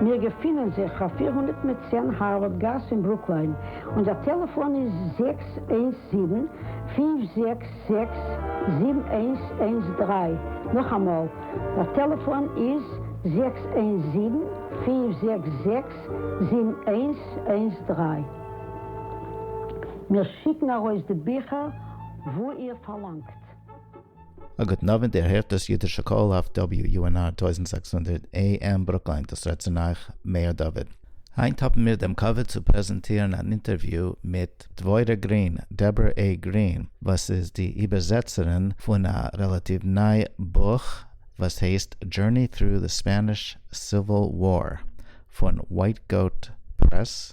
מיר געפינען זיך אויף פֿיר הונדערט מיט צען הארווארד גאס אין ברוקליין, אונזער טעלעפאן איז זעקס איינס זיבן, פֿינף זעקס זעקס, זיבן איינס איינס דרײַ, נאכאמאל, דער טעלעפאן איז זעקס איינס זיבן, פֿינף זעקס זעקס, זיבן איינס איינס דרײַ. מיר שיקן ארויס די ביכער וואו איר פארלאנגט. א גוטן אווענט, איר הערט דאס אידישע קול אויף WUNR טויזנט זעקס הונדערט AM ברוקליין, דאס רעדט צו אייך מאיר דוד. היינט האבן מיר דעם כבוד צו פרעזענטירן אן אינטערוויו מיט דבורה גרין, Deborah A. Green, וואס איז די איבערזעצערין פון א רעלאטיוו ניי בוך וואס הייסט Journey Through the Spanish Civil War פון White Goat Press,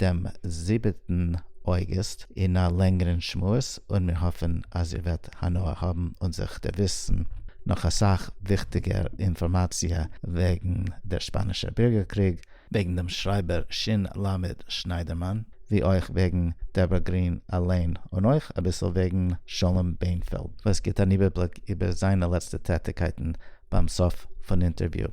דעם זיבעטן אויגוסט אין א לענגערן שמועס און מיר האפן אז איר וועט הנאה האבן און זיך דערוויסן נאך אסאך וויכטיגער אינפארמאציע וועגן דער שפאנישער בירגער קריג, וועגן דעם שרייבער ש ל שניידערמאן, ווי אויך וועגן דעברא גרין אליין און אויך אביסל וועגן שלום בענפעלד וואס גיט אן איבערבליק איבער זיינע לעצטע טעטיקייטן ביים סוף פון אינטערוויו,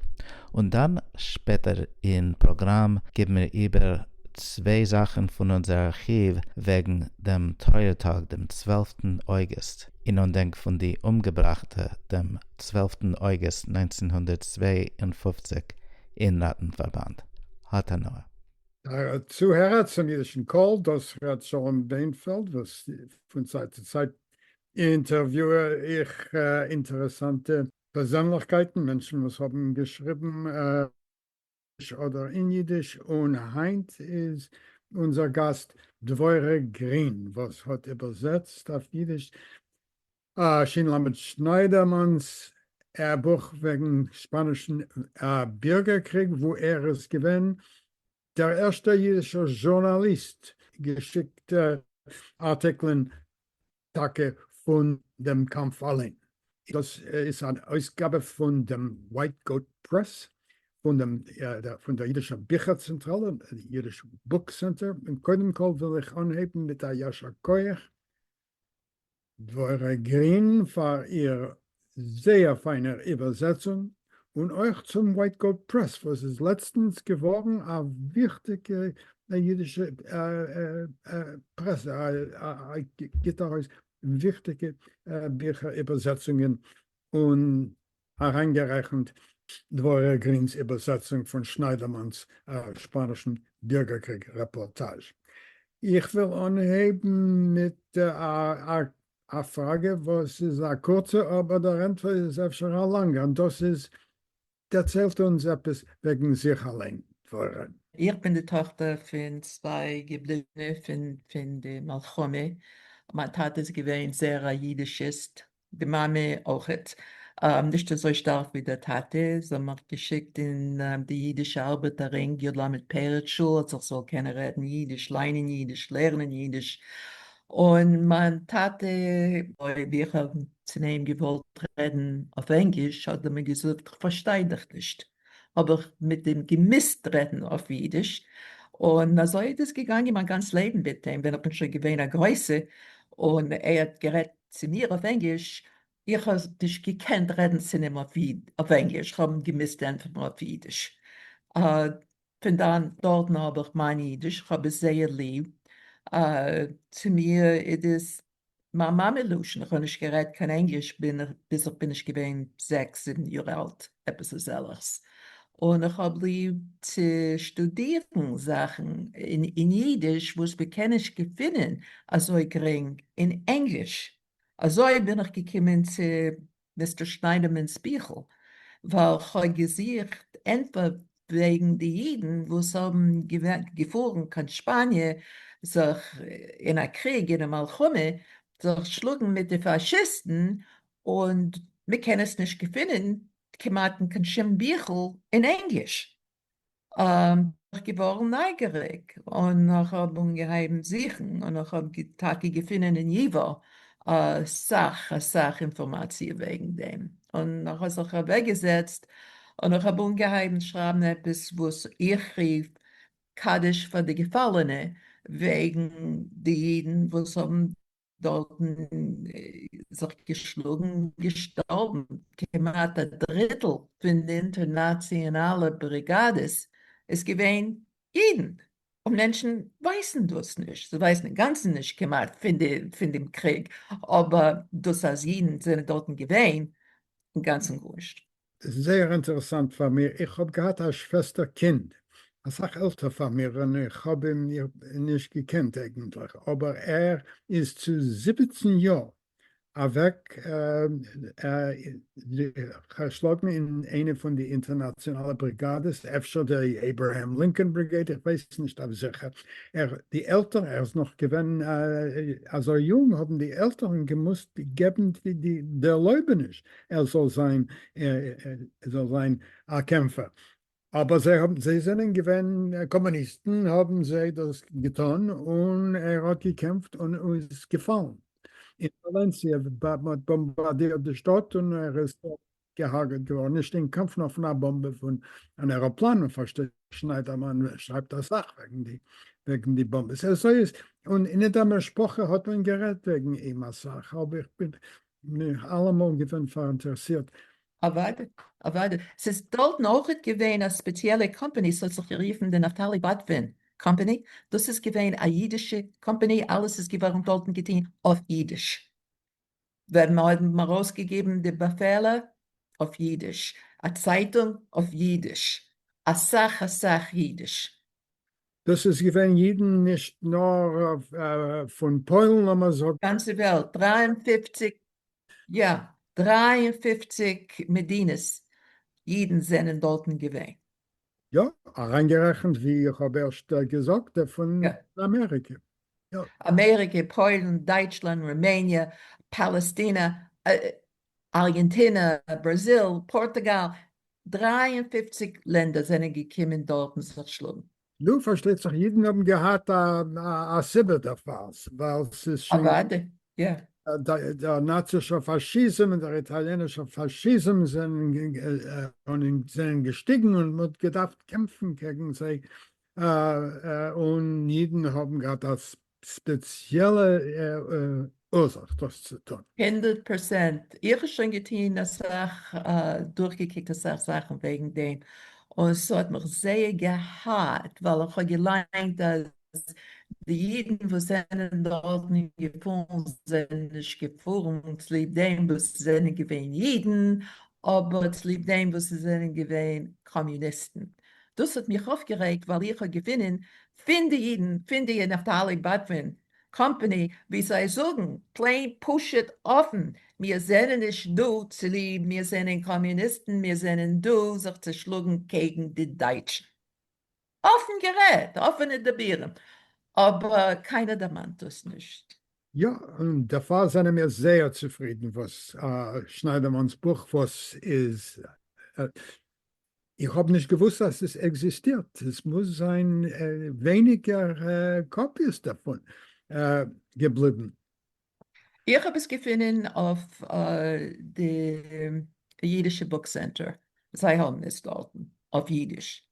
און דאן שפעטער אין פראגראם גיבן מיר איבער צוויי זאכן פון אונזער ארכיוו וועגן דעם טרויער טאג דעם צוועלפטן אויגוסט אין אנדענק פון די אומגעבראכטע דעם צוועלפטן אויגוסט נײַנצן הונדערט צוויי און פֿופֿציק אין ראטנפארבאנד. האט הנאה. דער צוהערער צום אידישן קול, דאס ר' שלום דענפעלד, וואס פון צייט צו צייט אינטערוויוער איך אינטערעסאנטע פערזענליכקייטן, מענטשן וואס האבן געשריבן אויף ענגליש אדער אין אידיש, און היינט איז אונזער גאסט דבורה גרין וואס האט איבערזעצט אויף אידיש שין למד שניידערמאן'ס בוך וועגן שפאנישן בירגער קריג וואו ער איז געווען דער ערשטער אידישער זשורנאליסט געשיקט ארטיקלען טאקע פון דעם קאמף אליין. דאס איז אן אויסגאבע פון דעם ווייט גאוט פרעס פון דעם פון דער אידישער ביכער צענטראלע, אידיש בוק סענטער. קודם כל וויל איך אנהייבן מיט א ישר כח דבורה גרין פאר איר זייער פיינער איבערזעצונג, און אויך צום ווייטגאו פרעס וואס איז לעצטנס געווארן א וויכטיגע אידישע פרעסע, גיבט ארויס וויכטיגע ביכער איבערזעצונגען און אריינגערעכנט דבורה גרינ'ס איבערזעצונג פון שניידערמאן'ס שפאנישן בירגער-קריג רעפארטאזש. איך וויל אנהייבן מיט א פראגע וואס איז א קורצע אבער דער ענטפער איז אפשר א לאנגע, און דאס איז, דערציילט אונז עפעס וועגן זיך אליין, דבורה. איך בין די טאכטער פון צוויי געבליבענע פון די מלחמה, מיין טאטע איז געווען זייער א אידישיסט, די מאמע אויכעט, נישט אזוי שטארק ווי דער טאטע, זיי האבן מיך געשיקט אין די אידישע ארבעטערינג י ל פערד שול אז איך זאל קענען רעדן אידיש, ליינען אידיש, לערנען אידיש, און מיין טאטע, אויב איך האב צו אים געוואלט רעדן אויף ענגליש האט ער מיר געזאגט איך פארשטיי דיך נישט, האב איך מיט אים געמוזט רעדן אויף אידיש, און אזוי איז עס געגאנגען מיין גאנץ לעבן, ווען איך בין שוין געווען א גרויסע און ער האט גערעדט צו מיר אויף ענגליש, איך האב נישט געקענט רעדן צו אים אויף ענגליש, איך האב געמוזט ענטפערן אויף אידיש, פון דאן דארטן האב איך מיין אידיש, איך האב עס זייער ליב, צו מיר איז עס מיין מאמע לשון, איך האב נישט גערעדט קיין ענגליש ביז איך בין נישט געווען זעקס זיבן יאר אלט. עפעס אזעלכס, און איך האב ליב צו שטודירן זאכן אין אידיש וואס מען קען נישט געפינען אזוי גרינג אין ענגליש, אזוי בין איך געקומען צו מיסטער שניידערמאן'ס ביכל, ווייל כ'האב געזוכט ענטפער וועגן די אידן וואס האבן געפארן קיין שפאניע זיך אין א קריג אינעם מלחמה זיך שלאגן מיט די פאשיסטן, און מ'קען עס נישט געפינען כמעט אין קיין שום ביכל אין ענגליש, בין איך געווארן נייגעריג און איך האב אנגעהייבן זוכן און איך האב טאקע געפינען אין ייווא אסאך אסאך אינפארמאציע וועגן דעם, און איך האב זיך אוועקגעזעצט און איך האב אנגעהייבן שרייבן עפעס וואס איך רוף קדיש פאר די געפאלענע וועגן די אידן וואס האבן דארטן זיך געשלאגן געשטארבן כמעט א דריטל פון די אינטערנאציאנאלע בריגאדעס איז געווען אידן און מענטשן ווייסן דאס נישט זיי ווייסן אינגאנצן נישט כמעט פון דעם קריג אבער דאס אז אידן זענען דארטן געווען אינגאנצן גארנישט. איז זייער אינטערעסאנט פאר מיר, איך האב געהאט א שוועסטער קינד אסאך עלטער פאר מיר און איך האב אים נישט געקענט אייגענטליך אבער ער איז צו זיבעצן יאר אוועק געשלאגן אין איינע פון די אינטערנאציאנאלע בריגאדעס אפשר די עיברעהעם לינקאן בריגעיד איך ווייס נישט אויף זיכער ער די עלטער ער איז נאך געווען אזוי יונג האבן די עלטערן געמוזט געבן די ערלויבעניש ער זאל זיין ער זאל זיין א קעמפער, אבער זיי האבן זיי זענען געווען קאמוניסטן האבן זיי דאס געטון און ער האט געקעמפט און איז געפאלן אין וואלענסיע, מען האט באמבארדירט די שטאט און ער איז דארט געהארגעט געווארן, נישט אין קאמף נאר פון א באמבע פון אן עראפלאן, און פארשטייט זיך שניידערמאן שרייבט אסאך וועגן די וועגן די באמבעס, אזוי איז און אין דער משפחה האט מען גערעדט וועגן אים אסאך, אבער איך בין בין איך אלעמאל געווען פאראינטערעסירט. אוואדע, אוואדע. ס'איז דארטן אויכעט געווען א ספעציעלע קאמפעני ס'האט זיך גערופן די נפתלי באטווין קאמפעני, דאס איז געווען א אידישע קאמפעני אלעס איז געווארן דארטן געטוהן אויף אידיש, ווען מ'האבן ארויסגעגעבן די באפעלער אויף אידיש, א צייטונג אויף אידיש, אסאך אסאך אידיש. דאס איז געווען אידן נישט נאר פון פוילן לאמער זאגן. גאנצע וועלט, דרײַ און פֿופֿציק יא, דרײַ און פֿופֿציק מדינות אידן זענען דארטן געווען. יא, אריינגערעכנט ווי איך האב ערשט געזאגט פון אמעריקע. אמעריקע, פוילן, דייטשלאנד, רומעניע, פאלעסטינע, ארגענטינע, בראזיל, פארטוגאל, דרײַ און פֿופֿציק לענדער זענען געקומען דארטן זיך שלאגן. נו פארשטייט זיך אידן האבן געהאט א סיבה דערפאר, ווייל ס'איז שוין דער נאצישער פאשיזם און דער איטאליענישער פאשיזם זענען געשטיגן און מ'האט געדארפט קעמפן קעגן זיי, און אידן האבן געהאט א ספעציעלע אורזאך דאס צו טון. הונדערט פראצענט, איך האב שוין געטון אסאך, דורכגעקוקט אסאך זאכן וועגן דעם, און ס'האט מיך זייער געהאט, ווייל איך האב געליינט אז די אידן וואס זענען דארטן געפארן זענען נישט געפארן צוליב דעם וואס זענען געווען אידן, אבער צוליב דעם וואס עס זענען געווען קאמיוניסטן. דאס האט מיך אויפגערעגט ווייל איך האב געפינען פין די אידן פין די נפתלי בטווין קאמפעני ווי זיי זאגן פלעין פשוט אפן מיר זענען נישט דא צוליב מיר זענען קאמיוניסטן מיר זענען דא זיך צו שלאגן קעגן די דייטשן. אפן גערעדט, אפענע דיבורים, אבער קיינער דערמאנט דאס נישט. יא, און דערפאר זענען מיר זייער צופרידן וואס שניידערמאן'ס בוך וואס איז, איך האב נישט געוואוסט אז עס עקזיסטירט, עס מוז זיין ווייניגער קאפיעס דערפון געבליבן. איך האב עס געפונען אויף די אידישע בוק סענטער, זיי האבן עס דארטן אויף אידיש.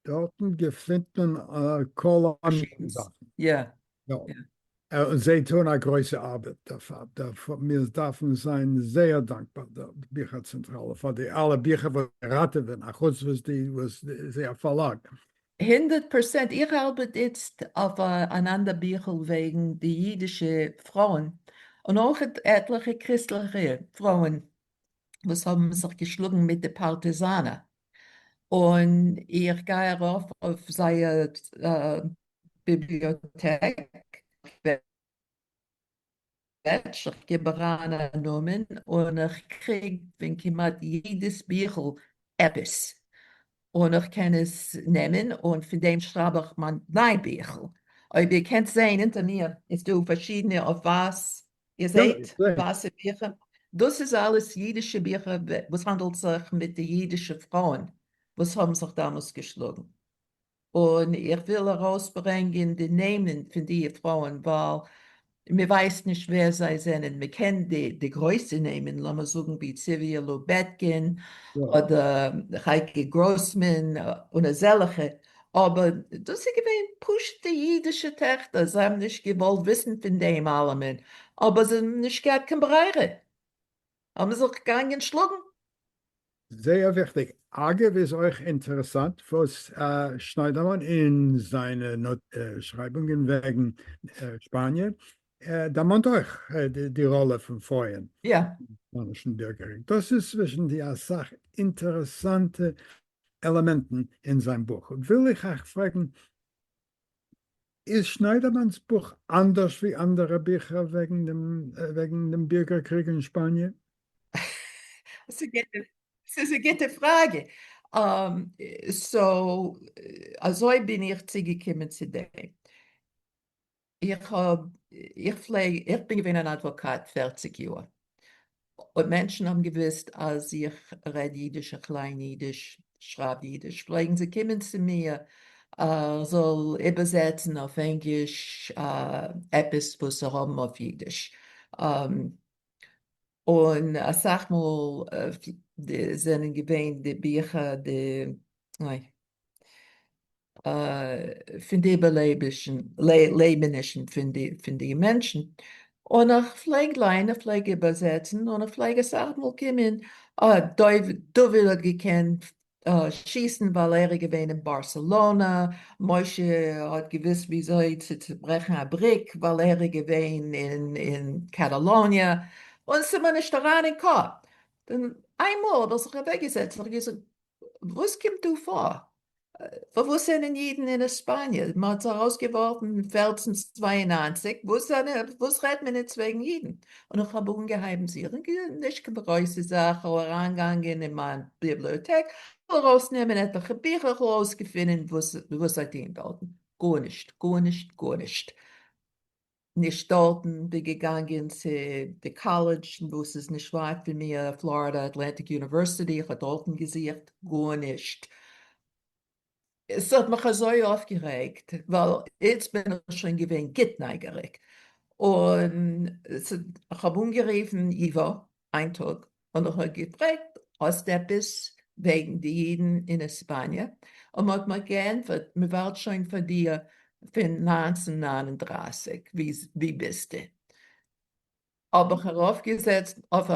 דארטן געפינט מען כל מיני זאכן. יא. און זיי טוען א גרויסע ארבעט דערפאר, מיר דארפן זיין זייער דאנקבאר די ביכער צענטראלע פאר די אלע ביכער וואס זיי ראטעווען, א חוץ וואס די וואס זי א פארלאג. הונדערט פראצענט, איך ארבעט איצט אויף אן אנדער ביכל וועגן די אידישע פרויען, און אויך עטליכע קריסטליכע פרויען וואס האבן זיך געשלאגן מיט די פארטיזאנער. און איך גיי ארויף אויף זייער ביבליאטעק וועבפעידזש, איך גיב אריין א נאמען און איך קריג פון כמעט יעדעס ביכל עפעס, און איך קען עס נעמען און פון דעם שרייב איך מיין ביכל, אויב איר קענט זעהן אונטער מיר איז דא פארשידענע אויף ווייס איר זעט וואסע ביכער? דאס איז אלעס אידישע ביכער וואס האנדלט זיך מיט די אידישע פרויען וואס האבן זיך דאמאלס געשלאגן, און איך וויל ארויס ברענגען די נעמען פון דיע פרויען ווייל מען ווייסט נישט ווער זיי זענען, מען קען די גרויסע נעמען לאמיר זאגן ווי ציוויעלא בעטקין אדער חייקי גראסמאן און אזעלעכע, אבער דאס איז געווען פשוט'ע אידישע טעכטער, זיי האבן נישט געוואלט וויסן פון דעם אלעמען, אבער זיי האבן נישט געהאט קיין ברירה, האבן זיי זיך געגאנגען שלאגן. זייער וויכטיג. אגב איז אויך אינטערעסאנט וואס שניידערמאן אין זיינע שרייבונגען וועגן שפאניע דערמאנט אויך די ראלע פון פרויען אין שפאנישן בירגערקריג, דאס איז צווישן די אסאך אינטערעסאנטע עלעמענטן אין זיין בוך, וויל איך אייך פרעגן, איז שניידערמאן'ס בוך אנדערש ווי אנדערע ביכער וועגן דעם וועגן דעם בירגער קריג אין שפאניע? ס'איז א גוטע פראגע. סאו אזוי בין איך צוגעקומען צו דעם. איך האב, איך פלעג, איך בין געווען אן אדוואקאט פערציג יאר, אויב מענטשן האבן געוואוסט אז איך רעד אידיש, איך ליין אידיש, שרייב אידיש, פלעגן זיי קומען צו מיר איך זאל איבערזעצן אויף ענגליש עפעס וואס זיי האבן אויף אידיש, און אסאך מאל זענען געווען די ביכער די. פון די איבערלעבישן לעבענישן פון די פון די מענטשן, און איך פלעג ליינען איך פלעג איבערזעצן און איך פלעג אסאך מאל קומען אה דוד האט געקענט שיסן ווייל ער איז געווען אין בארסעלאנא, משה האט געוויסט וויאזוי צו צוברעכן א בריק ווייל ער איז געווען אין קאטאלאניע, און ס'איז מיר נישט אריין אין קאפ, איינמאל האב איך זיך אוועקגעזעצט און איך האב געזאגט וואס קומט דא פאר? וואס זענען אידן אין עספאניע? מען האט זיך אויסגעווארפן אין פערצן צוויי און נײַנציק, וואס רעדט מען איצט וועגן אידן? און איך האב אנגעהייבן זוכן, נישט קיין גרויסע זאך, כ'האב אריינגעגאנגען אין מיין ביבליאטעק, כ'וויל ארויסנעמען עטליכע ביכער, כ'וויל ארויסגעפינען וואס זיי טוען דארטן, גארנישט, גארנישט, גארנישט. נישט דארטן, בין געגאנגען צו די קאלעדזש וואס איז נישט ווייט פון מיר, פלארידע אטלענטיק יוניווערסיטי, איך האב דארטן געזוכט, גארנישט, עס האט מיך אזוי אויפגערעגט, ווייל איצט בין איך שוין געווען גוט נייגעריג, און איך האב אנגערופן ייווא, איין טאג האט מיך ער געפרעגט האסט עפעס וועגן די אידן אין עספאניע, און מ'האט מיר געענטפערט מ'ווארט שוין פאר דיר פון נײַנצן נײַן און דרײַסיק, ווי ביסטו? האב איך ארויפגעזעצט אויף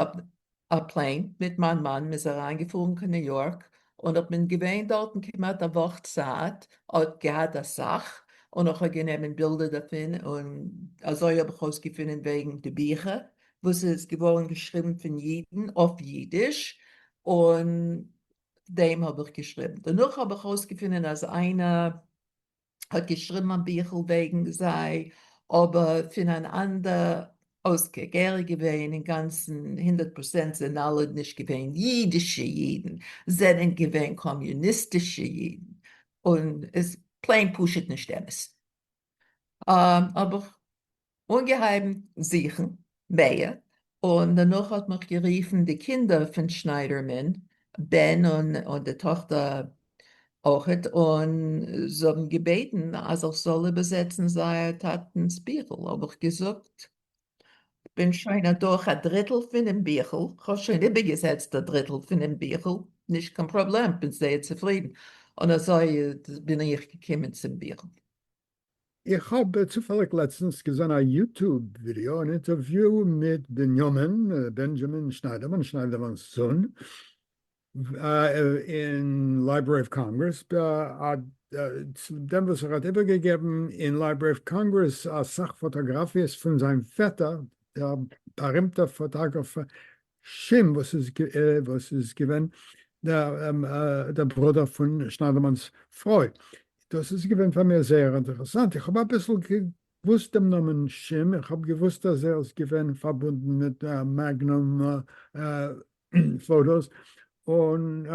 א פלעין מיט מיין מאן, מ'איז אריינגעפארן קיין ניו יארק, און איך בין געווען דארטן כמעט א וואך צייט, האט געהאט אסאך, און איך האב גענומען בילדער דערפון, און אזוי האב איך אויסגעפונען וועגן די ביכער וואס עס איז געווארן געשריבן פון אידן אויף אידיש, און דעם האב איך געשריבן. דערנאך האב איך אויסגעפונען אז איינער האט געשריבן א ביכל וועגן זיי, אבער פון אן אנדער אויסקוק. ער איז געווען אינגאנצן הונדערט פראצענט סענאליד נישט געווען. אידישע אידן זענען געווען קאמיוניסטישע אידן, און איז פלעין פשוט נישט אמת. האב איך אנגעהייבן זוכן מער, און דערנאך האט מיך גערופן די קינדער פון שניידערמאן בן און די טאכטער אויכעט, און זיי האבן געבעטן אז איך זאל איבערזעצן זייער טאטנ'ס ביכל, האב איך געזאגט כ'בין שוין אדורך א דריטל פונעם ביכל, כ'האב שוין איבערגעזעצט א דריטל פונעם ביכל, נישט קיין פראבלעם, כ'בין זייער צופרידן, און אזוי בין איך געקומען צום ביכל. איך האב צופעליג לעצטנס געזען א יוטוב ווידיאו, אן אינטערוויו מיט בנימין, בענדזשאמין, שניידערמאן, שניידערמאן'ס זון, אין לייברערי אוו קאנגרעס, דעם וואס ער האט איבערגעגעבן אין לייברערי אוו קאנגרעס אסאך פאטאגראפיעס פון זיין פעטער דער בארימטער פאטאגראפער שין וואס איז געווען דער ברודער פון שניידערמאן'ס פרוי, דאס איז געווען פאר מיר זייער אינטערעסאנט, איך האב אביסל געוואוסט דעם נאמען שין, איך האב געוואוסט אז ער איז געווען פארבונדן מיט מעגנום פאטאס און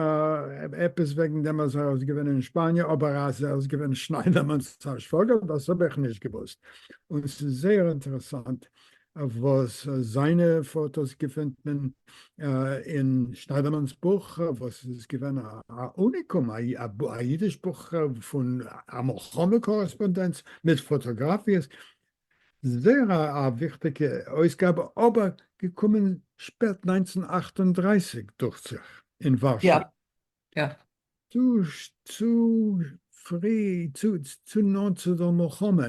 עפעס וועגן דעם אז ער איז געווען אין שפאניע אבער אז ער איז געווען שניידערמאן'ס שוואגער דאס האב איך נישט געוואוסט און ס'איז זייער אינטערעסאנט וואס זיינע פאטאס געפינט מען אין שניידערמאן'ס בוך וואס איז געווען א אוניקום א אידיש בוך פון א מלחמה קארעספאנדענץ מיט פאטאגראפיעס זייער א א וויכטיגע אויסגאבע אבער געקומען שפעט נײַנצן אַכט און דרײַסיק דוכט זיך אין ווארשא. יא יא. צו צו פרי צו צו נאנט צו דער מלחמה.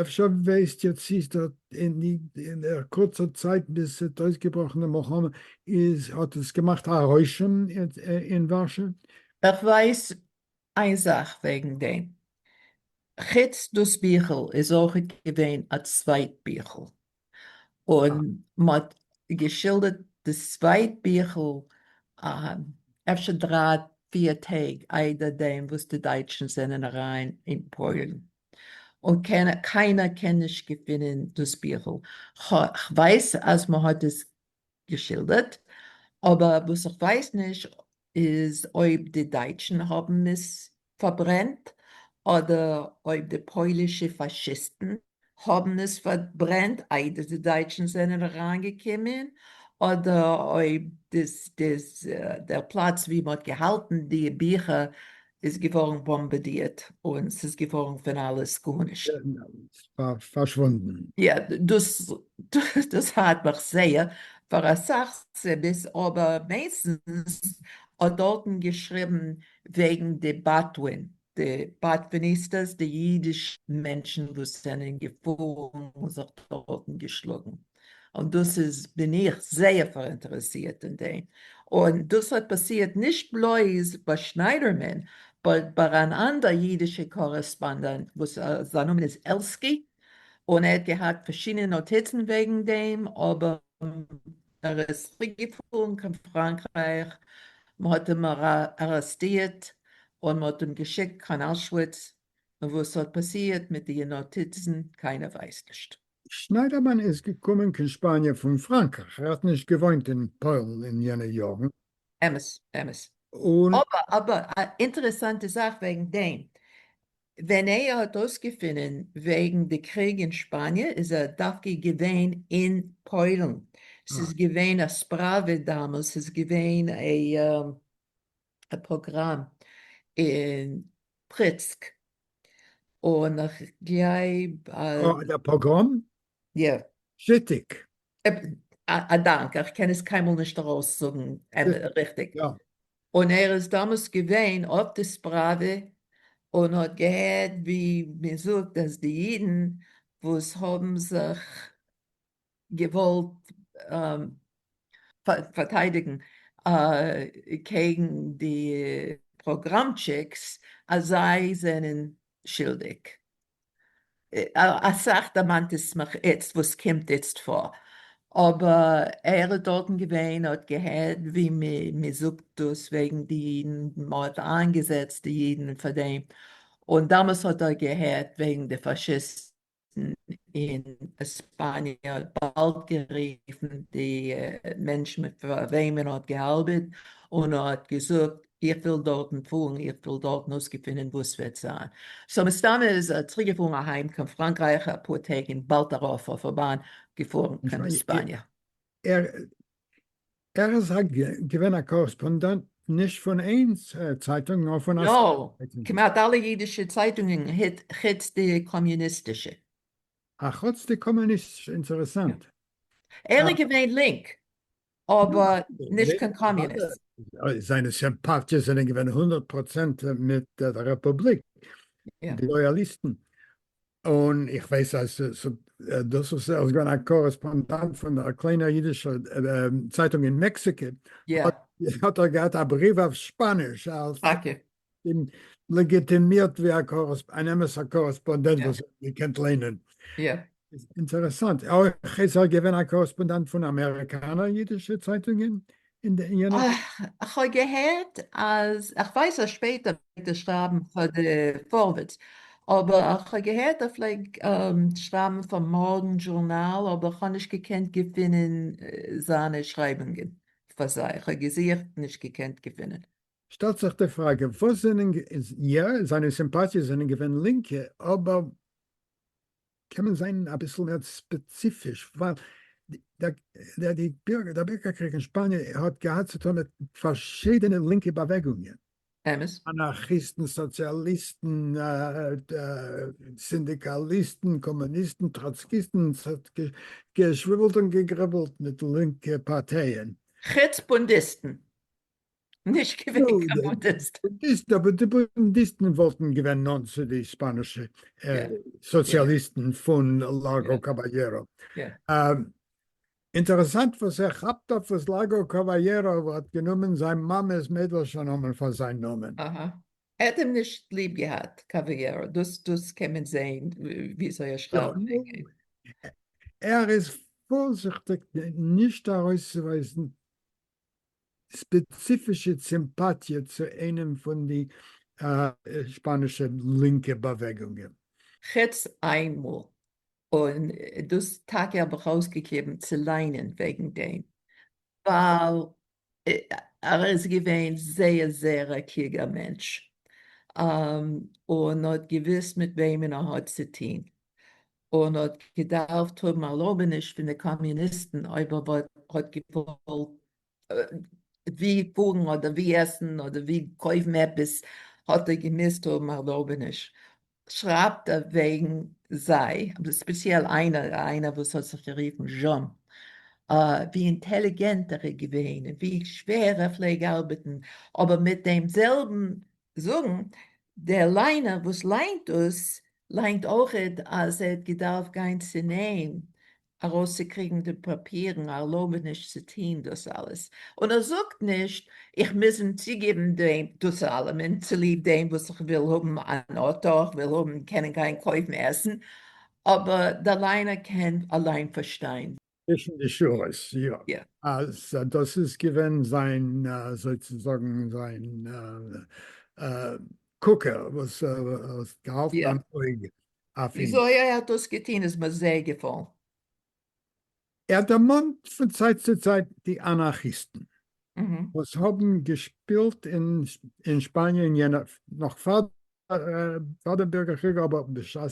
אפשר ווייסט איר צי ס'האט אין די אין דער קורצער צייט ביז ס'האט אויסגעבראכן די מלחמה איז האט עס געמאכט א רושם אין ווארשא? איך ווייס איין זאך וועגן דעם, חוץ דאס ביכל איז אויך געווען א צווייט ביכל, און מ'האט געשילדערט די צווייט ביכל אפשר דריי פיר טעג איידער דעם וואס די דייטשן זענען אריין אין פוילן, און קיינער קען נישט געפינען דאס ביכל, כ'ווייס אז מ'האט עס געשילדערט, אבער וואס איך ווייס נישט איז אויב די דייטשן האבן עס פארברענט, אדער אויב די פוילישע פאשיסטן האבן עס פארברענט איידער די דייטשן זענען אריינגעקומען, אדער אויב דער פלאץ ווי מען האט געהאלטן די ביכער איז געווארן באמבעדירט און ס'איז געווארן פון אלעס גארנישט. פארשוואונדן. יא, דאס פארט מיך זייער, פאר אסאך סיבות, אבער מעינסטנס האט דארטן געשריבן וועגן די באדווין, די באדוויניסטעס, די אידישע מענטשן וואס זענען געפארן און זיך דארטן געשלאגן. און דאס איז בין איך זייער פאראינטערעסירט אין דעם, און דאס האט פאסירט נישט בלויז ביי שניידערמאן באט ביי אן אנדער אידישע קארעספאנדענט וואס זיין נאמען איז עלסקי, און ער האט געהאט פארשידענע נאטיצן וועגן דעם, אבער ער איז צוריק געפארן קיין פראנקרייך, מען האט אים ארעסטירט און מען האט אים געשיקט קיין אושוויץ, און וואס האט פאסירט מיט די נאטיצן קיינער ווייסט נישט. שניידערמאן איז געקומען קיין שפאניע פון פראנקרייך, ער האט נישט געוואוינט אין פוילן אין יענע יארן. אמת, אמת. און. אבער, אבער, א אינטערעסאנטע זאך וועגן דעם, ווען ער האט אויסגעפינען וועגן די קריג אין שפאניע, איז ער דווקא געווען אין פוילן, ס'איז געווען א ספראווע דאמאלס, ס'איז געווען א. א פראגראם אין פריצק און איך גלייב אז. אה דער פאגראם? יא. שיטיג. א דאנק, איך קען עס קיינמאל נישט ארויס זאגן ריכטיג. יא. און ער איז דאמאלס געווען אויף די ספראווע און האט געהערט ווי מען זאגט אז די אידן וואס האבן זיך געוואלט פארטיידיגן קעגן די פראגראמטשיקס אז זיי זענען שילדיג, אסאך דערמאנט עס מיך איצט וואס קומט איצט פאר, אבער ער איז דארטן געווען האט געהערט ווי מען זאגט דאס וועגן די אידן, מען האט איינגעזעצט די אידן פאר דעם, און דאמאלס האט ער געהערט וועגן די פאשיסטן, אין עספאניע האט באלד גערופן די מענטש מיט וועמען ער האט געארבעט און האט געזאגט איך וויל דארטן פארן איך וויל דארטן אויסגעפינען וואס וועט זיין סאו מסתמא איז ער צוריק געפארן אהיים קיין פראנקרייך אפאר טעג און באלד דערויף אויף א באן געפארן קיין עספאניע. ער איז א געווען א קארעספאנדענט נישט פון איין צייטונג נאר פון אסאך צייטונגען. כמעט אלע אידישע צייטונגען חוץ די קאמיוניסטישע. אה חוץ די קאמיוניסטישע אינטערעסאנט. ער איז געווען לינק אבער נישט קיין קאמיוניסט. זיינע סימפאטיעס זענען געווען הונדערט פראצענט מיט די רעפובליק די לויאליסטן און איך ווייס אז דאס וואס ער איז געווען א קארעספאנדאנט פון א קליינער אידישער צייטונג אין מעקסיקא, האט ער געהאט א בריוו אויף שפאניש לעגיטימירט ווי אן אמת'ער קארעספאנדענט וואס ער האט געקענט ליינען. אינטערעסאנט. אויך איז ער געווען א קארעספאנדאנט פון אמעריקאנער אידישע צייטונגען אין די יענע וואך. כ'האב געהערט אז, כ'ווייס אז שפעטער פלעגט ער שרייבן פאר די פארווערטס, אבער כ'האב געהערט ער פלעג שרייבן פאר מארגן דזשורנאל, אבער כ'האב נישט געקענט געפינען זיינע שרייבונגען פאר זיי, כ'האב געזוכט נישט געקענט געפינען. שטעלט זיך די פראגע וואס זענען, יא זיינע סימפאטיעס זענען געווען לינקע אבער. קען מען זיין אביסל מער ספעציפיש? ווייל די בירגערקריג אין שפאניע האט געהאט צו טון מיט פארשידענע לינקע באוועגונגען. אמת. אנארכיסטן, סאציאליסטן, סינדיקאליסטן, קאמוניסטן, טראצקיסטן, ס'האט געשוויבלט און געגריבלט מיט לינקע פארטייען. חוץ בונדיסטן. נישט געווען קיין בודהיסט. בודהיסט, אבער די בודהיסטן וואלטן געווען נאנט צו די שפאנישע סאציאליסטן פון לארגא קאבאלעראו. אינטערעסאנט וואס ער כאפט אויף וואס לארגא קאבאלעראו האט גענומען זיין מאמע'ס מיידלשע נאמען פאר זיין נאמען. אהא. ער האט אים נישט ליב געהאט, קאבאלעראו, דאס דאס קען מען זעהן וויאזוי ער שרייבט. ער איז פארזיכטיג נישט ארויסצוווייזן ספעציפישע סימפאטיע צו איינעם פון די שפאנישע לינקע באוועגונגען. חוץ איין מאל, און דאס טאקע האב איך אויסגעקליבן צו ליינען וועגן דעם, ווייל ער איז געווען זייער זייער א קלוגער מענטש, און האט געוואוסט מיט וועמען ער האט צוטון, און האט געדארפט האבן ערלויבעניש פון די קאמיוניסטן אויב ער האט געוואלט ווי פארן אדער ווי עסן אדער ווי קויפן עפעס האט ער געמוזט האבן ערלויבעניש שרייבט ער וועגן זיי ספעציעל איינער איינער וואס האט זיך גערופן זשאן ווי אינטעליגענט ער איז געווען און ווי שווער ער פלעג ארבעטן אבער מיט דעם זעלבן זאגן, דער ליינער וואס ליינט דאס ליינט אויכעט אז ער האט געדארפט גיין צונעם ארויסצוקריגן די פאפירן, א ערלויבעניש צו טוהן דאס אלעס, און ער זאגט נישט איך מוז אים צוגעבן דאס אלעמען צוליב דעם וואס איך וויל האבן אן אוטא, איך וויל האבן קענען גיין קויפן עסן, אבער דער ליינער קען אליין פארשטיין. צווישן די שורות, יא. יא. אז דאס איז געווען זיין, אזוי צו זאגן, זיין קוקער וואס האט געהאלטן אן אויג אויף אים. וויאזוי ער האט דאס געטון איז מיר זייער געפאלן. ער דערמאנט פון צייט צו צייט די אנארכיסטן וואס האבן געשפילט אין שפאניע אין יענע, נאך פאר דער בירגער קריג אבער בשעת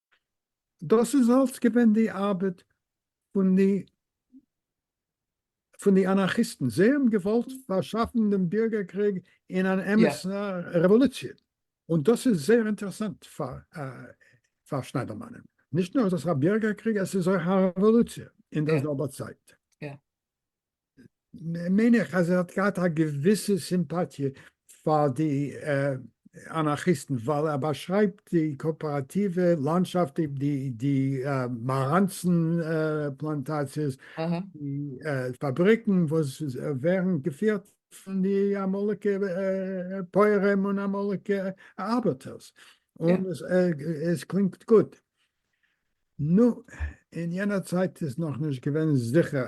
דאס איז אלס געווען די ארבעט פון די פון די אנארכיסטן, זיי האבן געוואלט פארשאפן דעם בירגער קריג אין אן אמת'ע רעוואלוציע, און דאס איז זייער אינטערעסאנט פאר פאר שניידערמאן, נישט נאר איז עס א בירגער קריג, עס איז אויך א רעוואלוציע אין דער זעלבער צייט. מיין איך אז ער האט געהאט א געוויסע סימפאטיע פאר די אנארכיסטן ווייל ער באשרייבט די קאאפעראטיווע לאנדשאפט, די מאראנצן פלאנטאציעס, די פאבריקן וואס ווערן געפירט פון די אמאליגע פויערים און אמאליגע ארבעטערס, און עס קלינגט גוט. נו, אין יענער צייט איז נאכנישט געווען זיכער,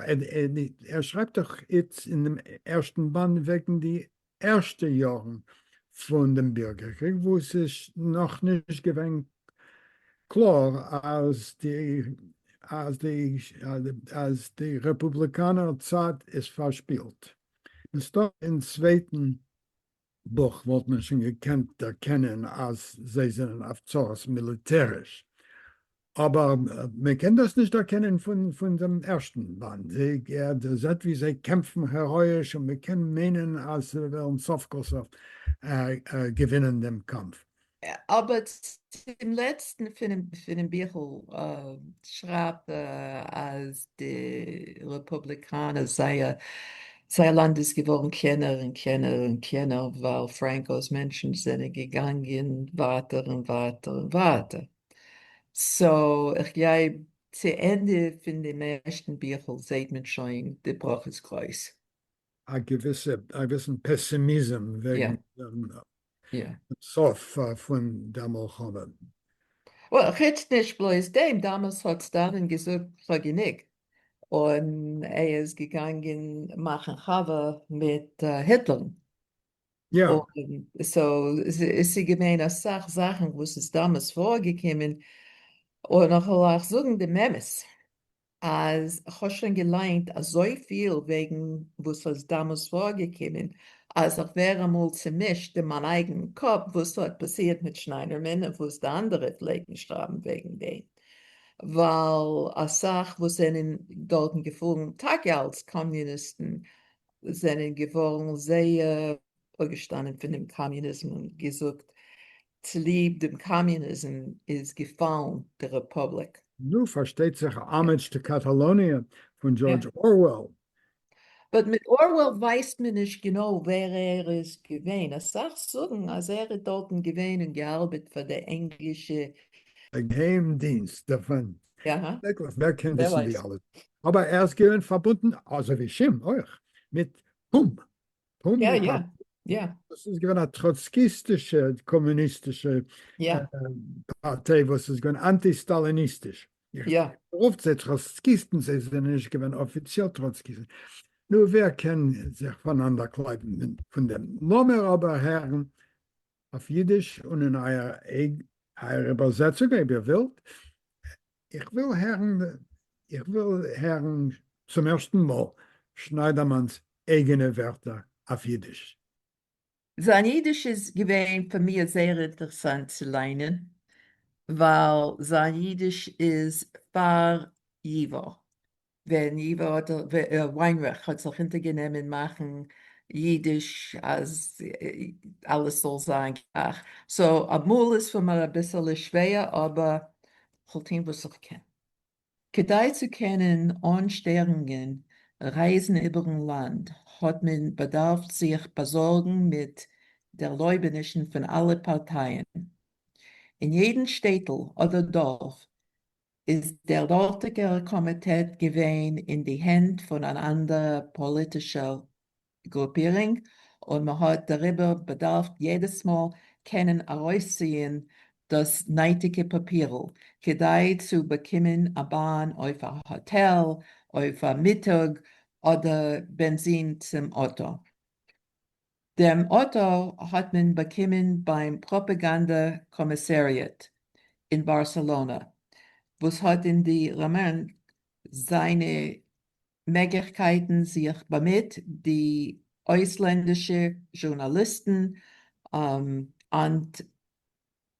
ער שרייבט דאך איצט אין דעם ערשטן באנד וועגן די ערשטע יארן פון דעם בירגער קריג וואו ס'איז נאכנישט געווען קלאר אז די רעפובליקאנער צד איז פארשפילט, מסתם אין צווייטן בוכ וואלט מען שוין געקענט דערקענען אז זיי זענען אויף צרות מיליטעריש, אבער מען קען דאס נישט דערקענען פון דעם ערשטן באנד, זיי זעט ווי זיי קעמפן העראאיש און מען קען מיינען אז זיי וועלן סוף כל סוף געווינען דעם קאמף. אבער צום לעצטן פונעם ביכל שרייבט ער אז די רעפובליקאנער זייער לאנד איז געווארן קלענער און קלענער און קלענער ווייל פרענקאו'ס מענטשן זענען געגאנגען ווייטער און ווייטער און ווייטער. סאו איך גלייב צו ענדע פון דעם ערשטן ביכל זעהט מען שוין די בראך איז גרויס. א געוויסע אביסל פעסימיזם וועגן דעם סוף פון דער מלחמה. וועל, חוץ נישט בלויז דעם, דאמאלס האט סטאלין געזאגט כ'האב גענוג, און ער איז געגאנגען מאכן חבר מיט היטלער. יא. סאו, ס'געווען אסאך זאכן וואס איז דאמאלס פארגעקומען, און כ'וועל אייך זאגן דעם אמת. אז כ'האב שוין געליינט אזויפיל וועגן וואס אז דאמאלס פארגעקומען אז איך ווער אמאל צומישט אין מיין אייגן קאפ וואס האט פאסירט מיט שניידערמאן און וואס די אנדערע פלעגן שרייבן וועגן דעם ווייל אסאך וואס זענען דארטן געפארן טאקע אלס קאמיוניסטן זענען געווארן זייער אפגעשטאנען פונעם קאמיוניזם און געזאגט צוליב דעם קאמיוניזם איז געפאלן די רעפובליק. נו, פארשטייט זיך א האמעדזש טו קאטאלאניע פון דזשארדזש אורוועל. באט מיט אורוועל ווייסט מען נישט גענוי ווער ער איז געווען, אסאך זאגן אז ער איז דארטן געווען און געארבעט פאר די ענגלישע. געהיים דינסט דערפון. שרעקליך, ווער קען וויסן די אלע. אבער ער איז געווען פארבונדן, אזוי ווי שום אויך, מיט. יא יא יא. דאס איז געווען א טראצקיסטישע קאמוניסטישע פארטיי וואס איז געווען אנטי סטאליניסטיש. יא. רופט זיי טראצקיסטן, זיי זענען נישט געווען אפיציעל טראצקיסטן. נו, ווער קען זיך פונאנדער קלייבן פון דעם? לאמיר אבער הערן אויף אידיש און אין אייער אייער איבערזעצונג אויב איר ווילט, איך וויל הערן איך וויל הערן צום ערשטן מאל שניידערמאן'ס אייגענע ווערטער אויף אידיש. זיין אידיש איז געווען פאר מיר זייער אינטערסאנט צו ליינען, ווייל זיין אידיש איז פאר ייווא. ווען איווא האט וויינרעך האט זיך אונטערגענומען מאכן אידיש אז אלעס זאל זיין גלייך, סאו אמאל איז פאר מיר אביסעלע שווער אבער כ'וועל טוהן וואס איך קען כדי צו קענען אן שטערונגען רייזן איבערן לאנד, האט מען באדארפט זיך באזארגן מיט ערלויבענישן פון אלע פארטייען אין יעדן שטעטל אדער דארף איז דער דארטיגער קאמיטעט געווען אין די הענט פון אן אנדערע פאליטישער גרופירינג, און מען האט דעריבער באדארפט יעדעס מאל קענען ארויסציען דאס נייטיגע פאפירל כדי צו באקומען א באן אויף א האטעל, אויף א מיטאג, אדער בענזין צום אויטא. דעם אוטא האט מען באקומען ביים פראפעגאנדע קאמיסעריעט אין בארסעלאנא, וואס האט אין די ראמען זיינע מעגליכקייטן זיך באמיט די אויסלענדישע זשורנאליסטן אנ ט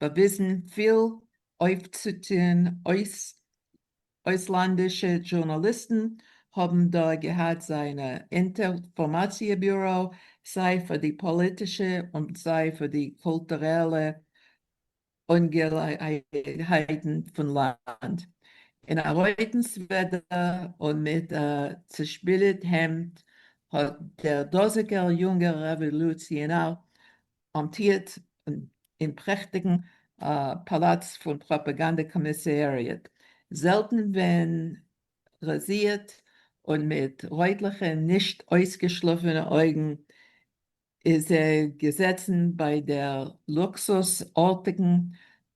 באוויזן פיל אויפצוטוהן, אויסלאנדישע דזשורנאליסטן האבן דא געהאט זיינע אינטערפארמאציע ביורא, סיי פאר די פאליטישע און סיי פאר די קולטורעלע אנגעלעגנהייטן פון לאנד, אין א רויטן סוועדער און מיט א צעשפיליט העמד האט דער דאזיגער יונגער רעוואלוציענאר אמטירט אין פרעכטיגן פאלאץ פון פראפאגאנדע קאמיסעריעט, זעלטן ווען ראזירט און מיט רויטליכע נישט אויסגעשלאפענע אויגן, איז ער געזעצן ביי דער לוקסוס ארטיגן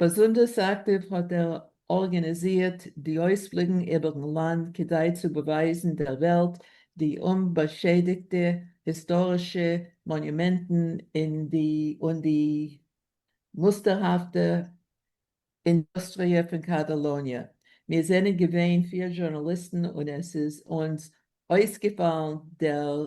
באזונדערס אקטיוו האט ער ארגאניזירט די אויספליגן איבער'ן לאנד כדי צו באווייזן דער וועלט די אומבאשעדיגטע היסטארישע מאניומענטן און די מוסטערהאפטע אינדוסטריע פון קאטאלאניע. מיר זענען געווען פיר זשורנאליסטן און עס איז אונז אויסגעפאלן דער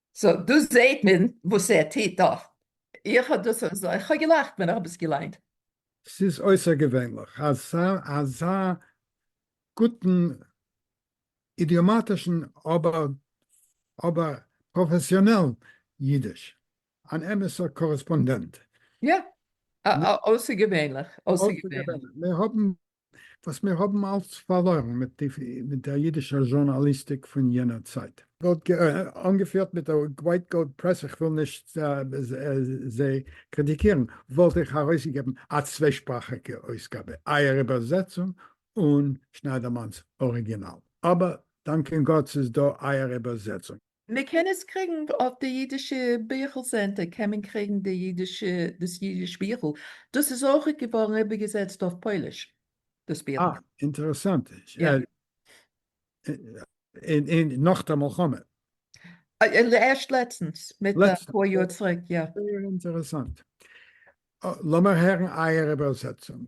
סאו דא זעהט מען וואס ער טוט דא. איך האב דאס אזוי, איך האב געלאכט ווען איך האב עס געליינט. ס'איז אויסערגעווענליך אזא אזא גוטן אידיאמאטישן אבער אבער פראפעסיאנעלן אידיש. אן אמת'ער קארעספאנדענט. יא. אויסערגעווענליך. אויסערגעווענליך. מיר האבן וואס מיר האבן אלץ פארלוירן מיט דער אידישער זשורנאליסטיק פון יענער צייט. אנגעפירט מיט דער ווייט גאוד פרעס, איך וויל נישט זיי קריטיקירן, וואלט איך ארויסגעגעבן א צוויישפראכיגע אויסגאבע, אייער איבערזעצונג און שניידערמאן'ס אריגינאל, אבער דאנקען גאט ס'איז דא אייער איבערזעצונג. מען קען עס קריגן אויף די אידישע ביכל סענטער קען מען קריגן די אידישע דאס אידיש ביכל, דאס איז אויכעט געווארן איבערגעזעצט אויף פויליש דאס ביכל. אה, אינטערעסאנט. אין נאך דער מלחמה? ערשט לעצטנס, מיט א פאר יאר צוריק, יא. זייער אינטערעסאנט. לאמיר הערן אייער איבערזעצונג.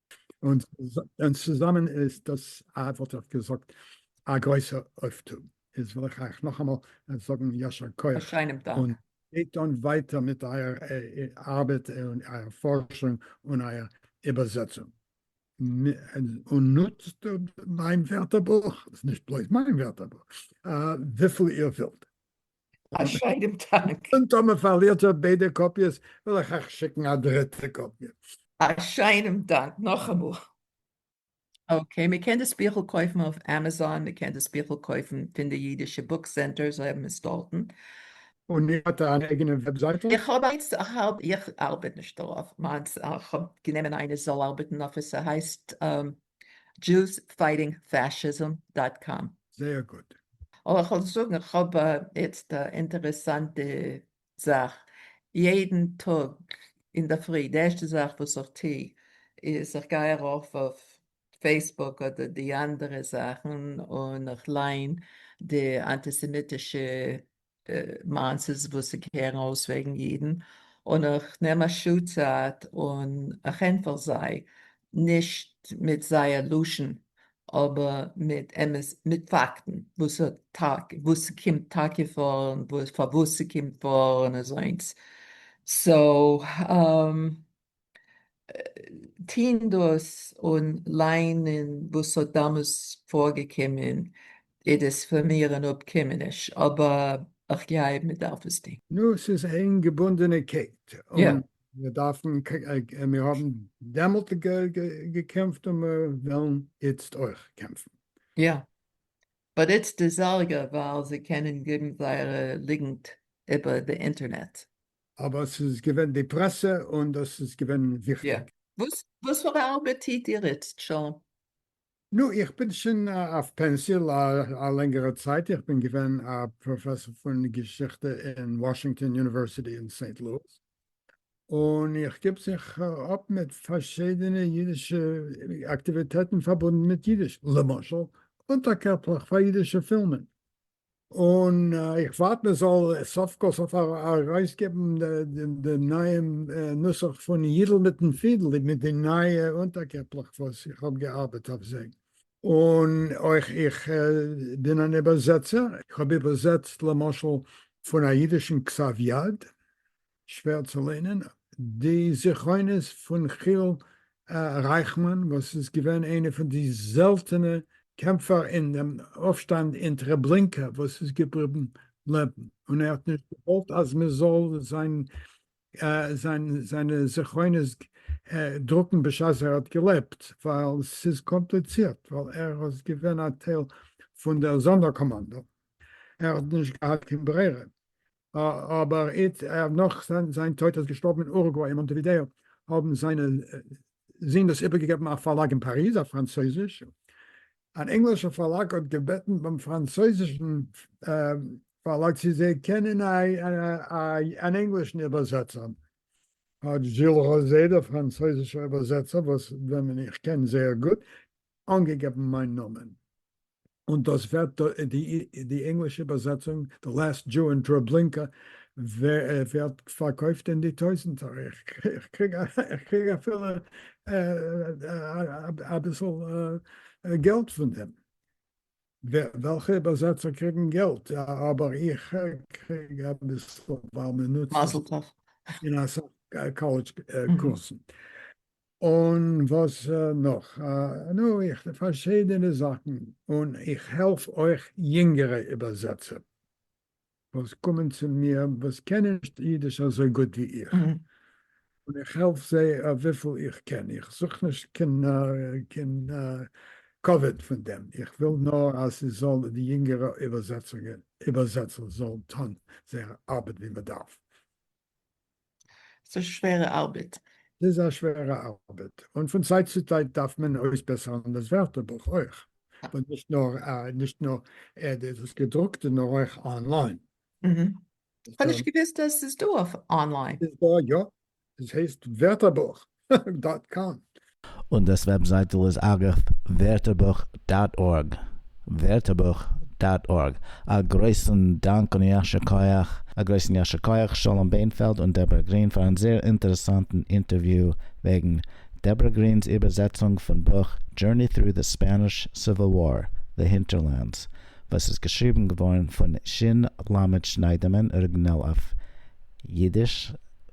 און צוזאמען איז דאס א וואלט איך געזאגט א גרויסע אויפטו. איז וויל איך אייך נאכאמאל זאגן יישר כח. א שיינעם דאנק. און גייט אן ווייטער מיט אייער ארבעט און אייער פארשונג און אייער איבערזעצונג. און נוצט מיין ווערטערבוך, ס'איז נישט בלויז מיין ווערטערבוך, וויפיל איר ווילט. א שיינעם טאנק. און טאמער פארלירט איר ביידע קאפיעס וועל איך אייך שיקן א דריטע קאפיע. א שיינעם דאנק נאכאמאל. אקעי, מען קען דאס ביכל קויפן אויף עמעזאן, מען קען דאס ביכל קויפן פון די אידישע בוק סענטער, זיי האבן עס דארטן. און איר האט אן אייגענע וועבזייטל? איך האב איינס, איך ארבעט נישט דערויף, מיינס, איך האב גענומען איינער זאל ארבעטן אויף עס, ס'הייסט. דזשוס פייטינג פאשיזם דאט קאם. זייער גוט. אבער איך וועל זאגן, איך האב יעצט א אינטערעסאנטע זאך, יעדן טאג אינדערפרי די ערשטע זאך וואס איך טו איז איך גיי ארויף אויף פעיסבוק אדער די אנדערע זאכן און איך ליין די אנטיסעמיטישע מעשות וואס ס'קערן אויס וועגן אידן, און איך נעם א שעה צייט און איך ענטפער זיי, נישט מיט זייער לשון, אבער מיט אמת, מיט פאקטן, וואס ס'קומט טאקע פאר און פארוואס ס'קומט פאר און אזוינס. סאו, טוהן דאס און ליינען וואס האט דאמאלס פארגעקומען איז עס פאר מיר אן אפקומעניש, אבער איך גלייב מען דארף עס טוהן. נו, ס'איז איין געבונדענע קעט, און מיר דארפן, מיר האבן דעמאלט געקעמפט און מיר וועלן איצט אויך קעמפן. יא, באט איצט איז ארגער ווייל זיי קענען געבן זייערע ליגנט איבער די אינטערנעט. אבער ס'איז געווען די פרעסע און דאס איז געווען וויכטיג. וואס פאר ארבעט טיט איר איצט שוין? נו, איך בין שוין אויף פענסי א לענגערע צייט, איך בין געווען א פראפעסאר פון געשיכטע אין וואשינגטאן יוניווערסיטי אין סעינט לואיס, און איך גיב זיך אפ מיט פארשידענע אידישע אקטיוויטעטן פארבונדן מיט אידיש, למשל אונטערקעפלעך פאר אידישע פילמען. און איך ווארט מען זאל סוף כל סוף ארויסגעבן דעם נייעם נוסח פון יידל מיטן פידל, מיט די נייע אונטערקעפלעך וואס איך האב געארבעט אויף זיי, און אויך איך בין אן איבערזעצער, איך האב איבערזעצט למשל פון א אידישן כתב יד, שווער צו ליינען, די זכרונות פון חיל רייכמאן וואס איז געווען איינע פון די זעלטענע קעמפער אין דעם אויפשטאנד אין טרעבלינקא וואס איז געבליבן לעבן און ער האט נישט געוואלט אז מען זאל זיין זיינע זכרונות דרוקן בשעת ער האט געלעבט ווייל ס'איז קאמפליצירט ווייל ער איז געווען א טייל פון דער זאנדער קאמאנדא ער האט נישט געהאט קיין ברירה אבער איצט נאך זיין טויט איז געשטארבן אין אורוגוואי און מאנטעווידעא האבן זיינע זין דאס איבערגעגעבן א פארלאג אין פאריז אויף פראנצויזיש. אן ענגלישער פארלאג האט געבעטן ביים פראנצויזישן פארלאג צו זיי קענען אן ענגלישן איבערזעצער. האט זשיל ראזעט, דער פראנצויזישער איבערזעצער וואס וועמען איך קען זייער גוט, אנגעגעבן מיין נאמען, און דאס ווערט די ענגלישע איבערזעצונג The Last Jew in Treblinka ווערט פארקויפט אין די טויזנטער, איך קריג אפילו אביסל געלט פון דעם, וועלכע איבערזעצער קריגן געלט? אבער איך קריג אביסל ווייל מ'נוצט עס אין אסאך קאלעדזש קורסן. און וואס נאך? נו, איך פארשידענע זאכן, און איך העלף אויך יונגערע איבערזעצער וואס קומען צו מיר וואס קענען נישט אידיש אזוי גוט ווי איך, און איך העלף זיי וויפיל איך קען, איך זוך נישט קיין כבוד פון דעם, איך וויל נאר אז ס'זאל די יונגערע איבערזעצער זאלן טון זייער ארבעט ווי מ'דארף. ס'איז א שווערע ארבעט. ס'איז א שווערע ארבעט, און פון צייט צו צייט דארף מען אויסבעסערן דאס ווערטערבוך אויך, און נישט נאר נישט נאר דאס געדרוקטע נאר אויך אנליין. כ'האב נישט געוויסט אז ס'איז דא אויף אנליין. ס'איז דא יא, עס הייסט ווערטערבוך. דאט קאם. און דאס וועבזייטל איז אגב ווערטערבוך דאט ארג, ווערטערבוך דאט ארג. א גרויסן דאנק און יישר כח. א גרויסן יישר כח שלום בענפעלד און דעברא גרין פארן זעהר אינטערעסאנטן אינטערוויו וועגן דעברא גרינ'ס איבערזעצונג פון בוך Journey Through the Spanish Civil War, The Hinterlands, וואס איז געשריבן געווארן פון שין ל שניידערמאן אריגינעל אויף אידיש,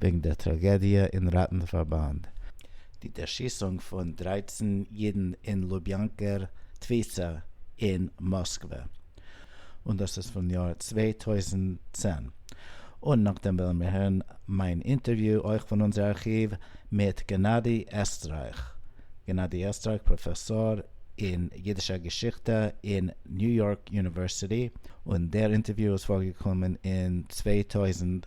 וועגן דער טראגעדיע אין ראטן-פארבאנד, די דערשיסונג פון דרײַצן אידן אין לוביאנקער תפיסה אין מאסקווע, און דאס איז פון יאר צוויי טויזנט צען, און נאכדעם וועלן מיר הערן מיין אינטערוויו, אויך פון אונזער ארכיוו, מיט גענאדי עסטרייך, גענאדי עסטרייך, פראפעסאר אין אידישער געשיכטע אין ניו יארק יוניווערסיטי, און דער אינטערוויו איז פארגעקומען אין צוויי טויזנט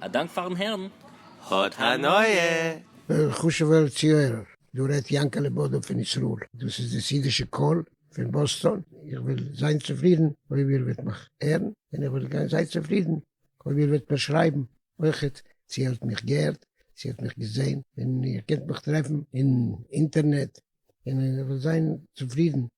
א דאנק פארן הערן. האט הנאה! חשוב'ער צוהערער, דא רעדט יענקעלע בודא פון ישראל, דאס איז די סעידישע קול פון באסטאן, איך וועל זיין צופרידן אויב איר וועט מיך הערן, און איך וועל גיין זייער צופרידן אויב איר וועט מיר שרייבן אויכעט צו איר האט מיך געהערט, צו איר האט מיך געזען, און איר קענט מיך טרעפן אין אינטערנעט, און איך וועל זיין צופרידן.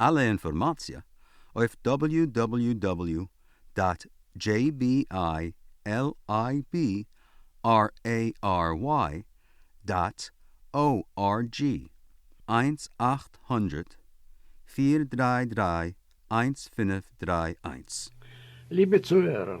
אלע אינפארמאציע אויף דאבעליו דאבעליו דאבעליו דאט דזשעי בי איי על איי בי אר עי אר וויי דאט או אר דזשי, איינס אַכט הונדערט פֿיר דרײַ דרײַ איינס פֿינף דרײַ איינס. ליבע צוהערער,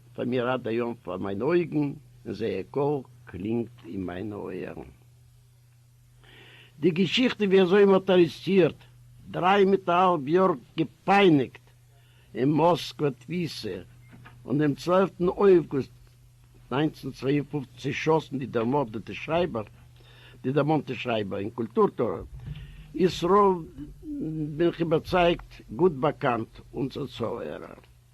פאר מיר עד היום פאר מיינע אויגן און זייער קול קלינגט אין מיינע אויערן. די געשיכטע ווי אזוי מען האט ארעסטירט דריי מיט א האלב יאר געפייניגט אין מאסקווע תפיסה און דעם צוועלפטן אויגוסט נײַנצן צוויי און פֿופֿציק צעשאסן די דערמארדעטע שרייבער די דערמאנטע שרייבער און קולטור טוער ישראל בין איך איבערצייגט גוט באקאנט אונזער צוהערער.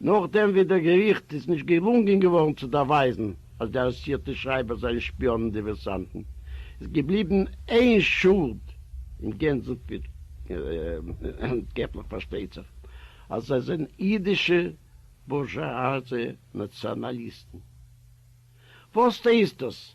נאכדעם ווי דער געריכט איז נישט געלונגען געווארן צו דאווייזן אז די ארעסטירטע שרייבערס זענען שפיאנען דיווערסאנטן, איז געבליבן איין שולד אין גענזן פיט, געטליך פארשטייט זיך אז זיי זענען אידישע בורזשואזע נאציאנאליסטן. וואס הייסט דאס?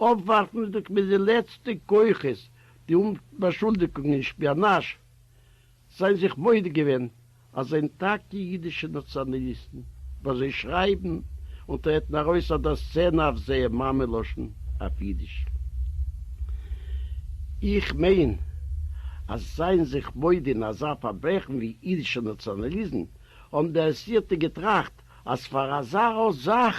אָפּוואַרפנדיק מיט די לעצטע כוחות די אומבאַשולדיקונג אין שפּיאָנאַזש, זיי זיך מודה געווען, אַז זענען טאַקע יידישע נאַציאָנאַליסטן, וואָס זיי שרייבן און טרעטן אַרויס אויף דער סצענע אויף זייער מאַמע-לשון, אויף יידיש. איך מיין, אַז זיין זיך מודה אין אַזאַ פאַרברעכן ווי יידישער נאַציאָנאַליזם, האָבן די אַרעסטירטע געטראַכט, אַז פאַר אַזאַ זאַך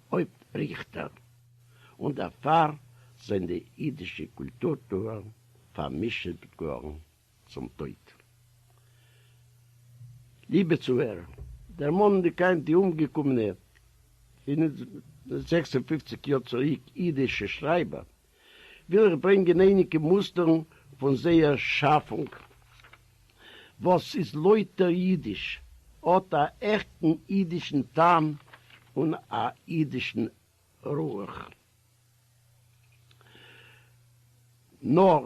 הויפט ריכטער, און דערפאר זענען די אידישע קולטורטוער פארמישעט געווארן צום טויט. ליבע צוהערער, דערמאנענדיג היינט די אומגעקומענע פֿינף און זעקס און פֿופֿציק יאר צוריק אידישע שרייבער, וויל איך ברענגען אייניגע מוסטערן פון זייער שאפונג וואס איז לויטער אידיש, האט א עכטן אידישן טעם און א אידישן רוח. נאר.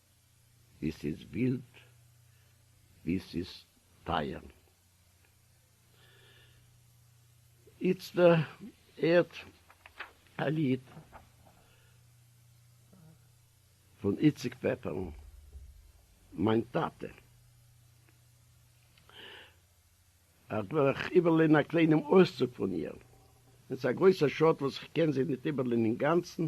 ווי ס'איז ווילד, ווי ס'איז טייער. איצטער הערט א ליד פון איציק פעפער'ן, מיין טאטע. אט וועל איך איבערליינען א קליינעם אויסצוג פון איר. און ס'איז א גרויסע שאד וואס כ'קען זי ניט איבערליינען אינגאנצן,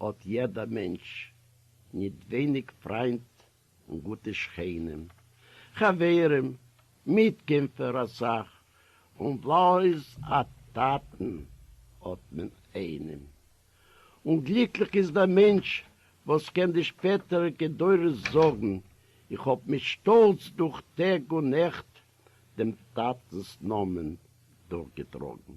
האט יעדע מענטש ניט ווייניג פריינט און גוטע שכנים, חברים, מיטקעמפער א סך, און בלויז א טאטן האט מען איינעם. און גליקליך איז דער מענטש וואס קען די שפעטעריקע דורות זאגן, איך האב מיט שטאלץ דורך טעג און נעכט דעם טאטנ'ס נאמען דורכגעטראגן.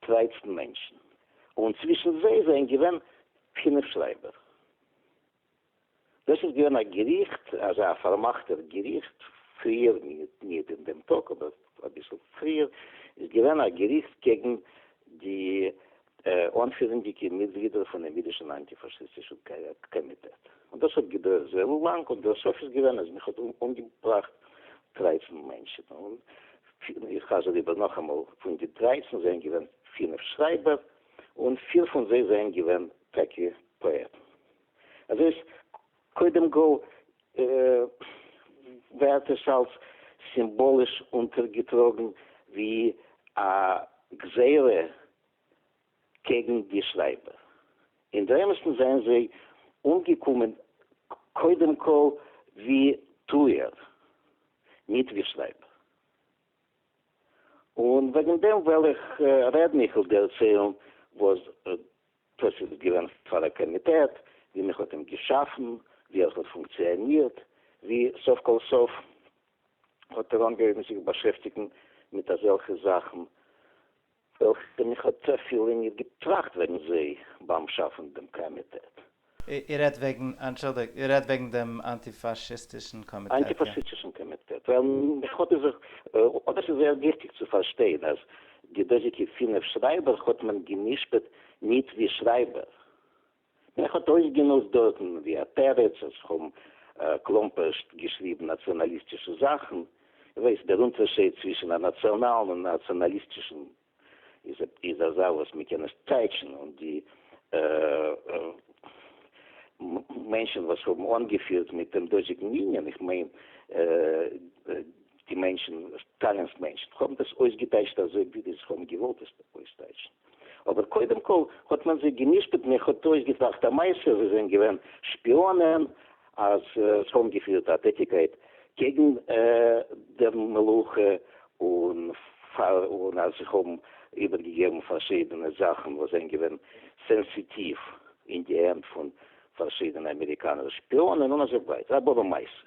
טרייצן מענטשן, און צווישן זיי זענען געווען פינף שרייבער. דאס איז געווען א געריכט, אזא פארמאכטער געריכט, פריער, ניט אין דעם טאג, אבער אביסל פריער, איז געווען א געריכט קעגן די אנפירנדיקע מיטגלידער פונעם יידישן אנטי-פאשיסטישן קאמיטעט. און דאס האט געדויערט זייער לאנג, און דער סוף איז געווען אז מען האט אומגעבראכט טרייצן מענטשן. און פֿינף, איך חזר איבער נאכאמאל, פון די דרייצן זענען געווען פֿינף שרייבער, און פֿיר פון זיי זענען געווען טאקע פאעטן. אזוי איז קודם כל ווערט עס אלס סימבאליש אונטערגעטראגן ווי א גזירה קעגן די שרייבער אין די אמת'ן זענען זיי אומגעקומען קודם כל ווי טוער ניט ווי שרייבער און וועגן דעם וועל איך רעדן איך וויל דערציילן וואס דאס איז געווען פאר א קאמיטעט ווי מען האט אים געשאפן ווי ער האט פונקציאנירט ווי סוף כל סוף האט ער אנגעהויבן זיך באשעפטיגן מיט אזעלכע זאכן איך בין איך האט צופיל לענגער געטראכט וועגן זיי ביים שאפן דעם קאמיטעט. איר רעדט וועגן, אנטשולדיגט, איר רעדט וועגן דעם אנטיפאשיסטישן קאמיטעט, איא? אנטיפאשיטישן קאמיטעט, ווייל איך וואלט עס זיך, אדער ס'איז זייער וויכטיג צו פארשטיין אז די דאזיגע פינף שרייבער האט מען גע'משפט ניט ווי שרייבער, מען האט אויסגענוצט דארטן ווי א תירוץ אז כ'האב כלומפרשט געשריבן נאציאנאליסטישע זאכן. איר ווייסט, דער אונטערשייד צווישן א נאציאנאלן און נאציאנאליסטישן איז אזא וואס מען קען נישט טייטשן, און די מענטשן וואס האבן אנגעפירט מיט דעם דאזיגן יוניאן, איך מיין די מענטשן, סטאלינ'ס מענטשן, האבן דאס אויסגעטייטשט אזוי ווי זיי האבן געוואלט עס אויסטייטשן. אבער קודם כל האט מען זיי גע'משפט מען האט אויסגעטראכט א מעשה זיי זענען געווען שפיאנען אז זיי האבן געפירט א טעטיגקייט קעגן דער מלוכה און פאר און אז זיי האבן איבערגעגעבן פארשידענע זאכן וואס זענען געווען סענסיטיוו אין די הענט פון פארשידענע אמעריקאנער שפיאנען און אזוי ווייטער א באבע מעשה.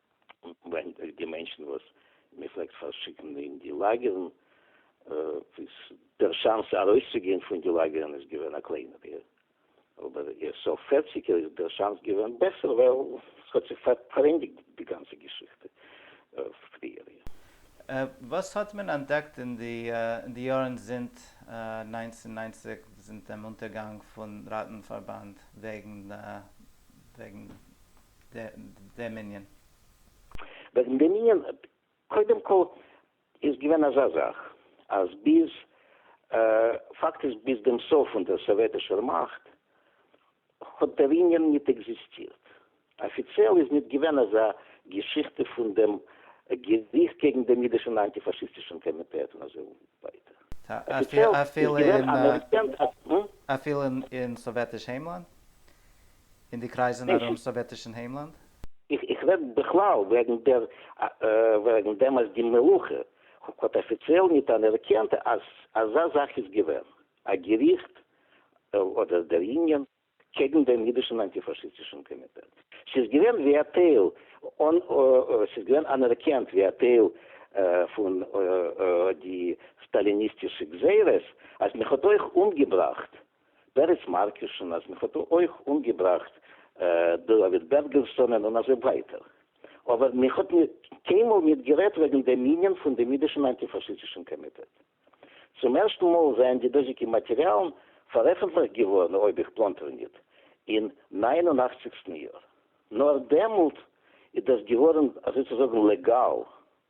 ווענדט אויף די מענטשן וואס מען פלעגט פארשיקן אין די לאגערן, איז דער שאנס ארויסצוגיין פון די לאגערן איז געווען א קלענערער, אבער אין סוף פערציגער איז דער שאנס געווען בעסער ווייל עס האט זיך פארענדיגט די גאנצע געשיכטע פריער. וואס האט מען אנטדעקט אין די יארן זינט נײַנצן נײַנציק זינט דעם אונטערגאנג פון ראטן פארבאנד וועגן. דעם ענין. וועגן דעם ענין, קודם כל איז געווען אזא זאך אז ביז פאקט איז ביז דעם סוף פון דער סאוועטישער מאכט האט דער ענין ניט עקזיסטירט. אפיציעל איז ניט געווען אזא געשיכטע פון דעם געריכט קעגן דעם אידישן אנטי-פאשיסטישן קאמיטעט און אזוי ווייטער. אפיציעל איז געווען אנערקענט אז. אפילו אין סאוועטיש היימלאנד? אין די קרייזען ארום סאוועטישען היימלאנד? איך רעד בכלל וועגן דער וועגן דעם אז די מלוכה האט אפיציעל ניט אנערקענט אז אזא זאך איז געווען א געריכט אדער דער יוניאן קעגן דעם אידישען אנטיפאשיסטישען קאמיטעט. ס'איז געווען ווי א טייל אן ס'איז געווען אנערקענט ווי א טייל פון די סטאליניסטישע גזירות אז מען האט אויך אומגעבראכט פערעץ מארקוש'ן אז מען האט דא אויך אנגעבראכט דוד בערגערסאנען און אזוי ווייטער, אבער מען האט קיינמאל ניט גערעדט וועגן דעם ענין פון דעם אידישן אנטי-פאשיסטישן קאמיטעט. צום ערשטן מאל זענען די דאזיגע מאטעריאלן פארעפנטליכט געווארן, אויב איך פלאנטער ניט, אין נײַן און אַכציקסטן יאר. נאר דעמאלט איז דאס געווארן אזוי צו זאגן לעגאל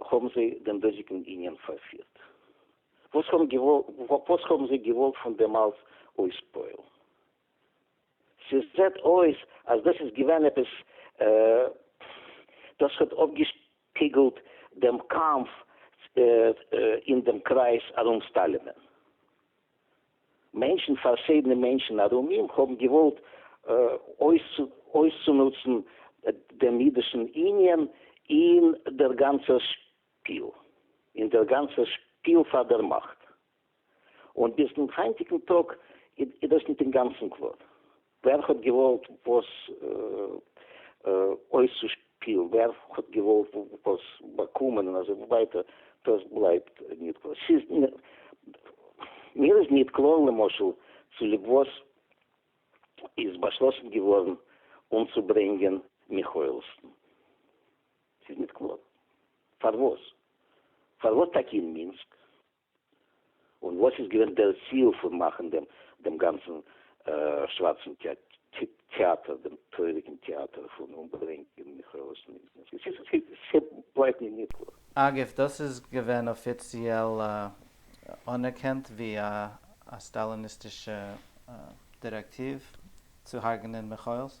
האָבן זיי דעם דאָזיקן איניען פאַרפירט? וואָס האָבן געוואָלט, וואָס האָבן זיי געוואָלט פון דעם אַלץ אויספּועלן? ס'זעט אויס, אַז דאָס איז געווען עפּעס, דאָס האָט אָפּגעשפּיגלט דעם קאַמף אין דעם קרייז אַרום סטאַלינען. מענטשן, פארשידענע מענטשן ארום אים, האבן געוואלט אויסצונוצן דעם אידישן ענין אין דער גאנצער שפיל, אין דער גאנצער שפיל פאר דער מאכט. און ביז דעם היינטיגן טאג איז דאס ניט אינגאנצן קלאר. ווער האט געוואלט וואס אויסצושפילן, ווער האט געוואלט וואס באקומען און אזוי ווייטער, דאס בלייבט ניט קלאר. ס'איז מיר איז ניט קלאר למשל צוליב וואס איז באשלאסן געווארן אומצוברענגען מיכאעלסן. ס'איז ניט קלאר פארוואס. פארוואס טאקע אין מינסק? און וואס איז געווען דער ציל פון מאכן דעם דעם גאנצן שווארצן טעאטער, דעם טרויעריגן טעאטער פון אומברענגען מכרות נפט? ס'בלייבט מיר נישט קלאר. אגב, דאס איז געווען אפיציעל אנערקענט ווי א סטאליניסטישע דירעקטיוו צו הרג'נען מכרות,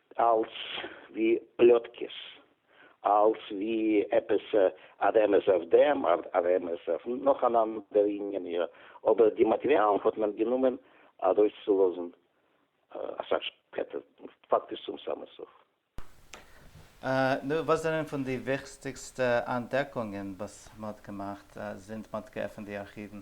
אלס ווי פלאטקעס, אלס ווי עפעס א רמז אויף דעם, א רמז אויף נאך אן אנדער ענין, אבער די מאטריאלן האט מען גענומען ארויסצולאזן אסאך שפעטער, פאקטיש צום סאמע סוף. נו, וואס זענען פון די וויכסטיגסטע אנטדעקונגען וואס מ'האט געמאכט זינט מ'האט געעפנט די ארכיוון?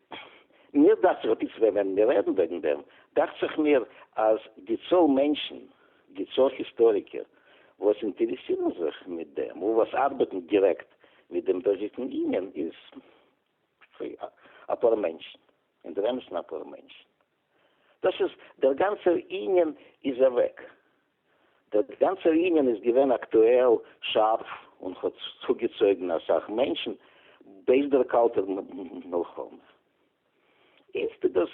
מיר דאכט זיך אפי' צוויי וועלן מיר רעדן וועגן דעם, דאכט זיך מיר אז די צאל מענטשן, די צאל היסטאריקער וואס אינטערעסירן זיך מיט דעם און וואס ארבעטן דירעקט מיט דעם דאזיגן ענין איז אפאר מענטשן, אינדערעמסן אפאר מענטשן. דאס איז דער גאנצער ענין איז אוועק. דער גאנצער ענין איז געווען אקטועל, שארף, און האט צוגעצויגן אסאך מענטשן בעת דער קאלטער מלחמה. איצט איז דאס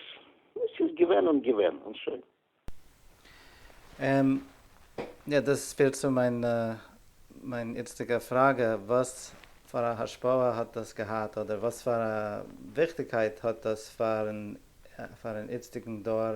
וואס ס'איז געווען און געווען, און שוין. און יא, דאס פירט צו מיין מיין איצטיגע פראגע, וואס פאר א השפעה האט דאס געהאט, אדער וואס פאר א וויכטיגקייט האט דאס פאר'ן פאר'ן איצטיגן דור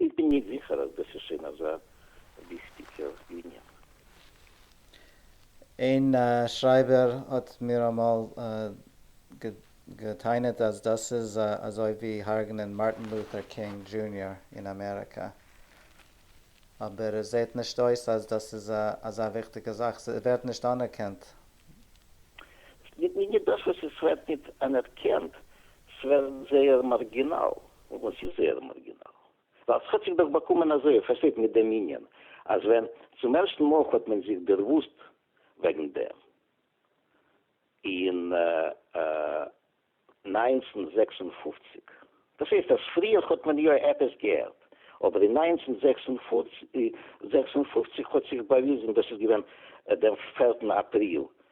איך בין נישט זיכער אז דאס איז שוין אזא וויכטיגער ענין. איין שרייבער האט מיר אמאל גע'טענה'ט אז דאס איז אזוי ווי הרג'נען מארטין לוטער קינג דזשוניאר אין אמעריקא. אבער עס זעהט נישט אויס אז דאס איז אזא וויכטיגע זאך, ס'ווערט נישט אנערקענט. נישט דאס וואס עס ווערט נישט אנערקענט, ס'ווערט זייער מארגינאל. וואס איז זייער מארגינאל? ווייל ס'האט זיך דאך באקומען אזוי, איר פארשטייט, מיט דעם ענין, אז ווען צום ערשטן מאל האט מען זיך דערוואוסט וועגן דעם אין נײַנצן זעקס און פֿופֿציק, דאס הייסט אז פריער האט מען יא עפעס געהערט, אבער אין נײַנצן זעקס און פֿופֿציק האט זיך באוויזן, דאס איז געווען דעם פערטן אפריל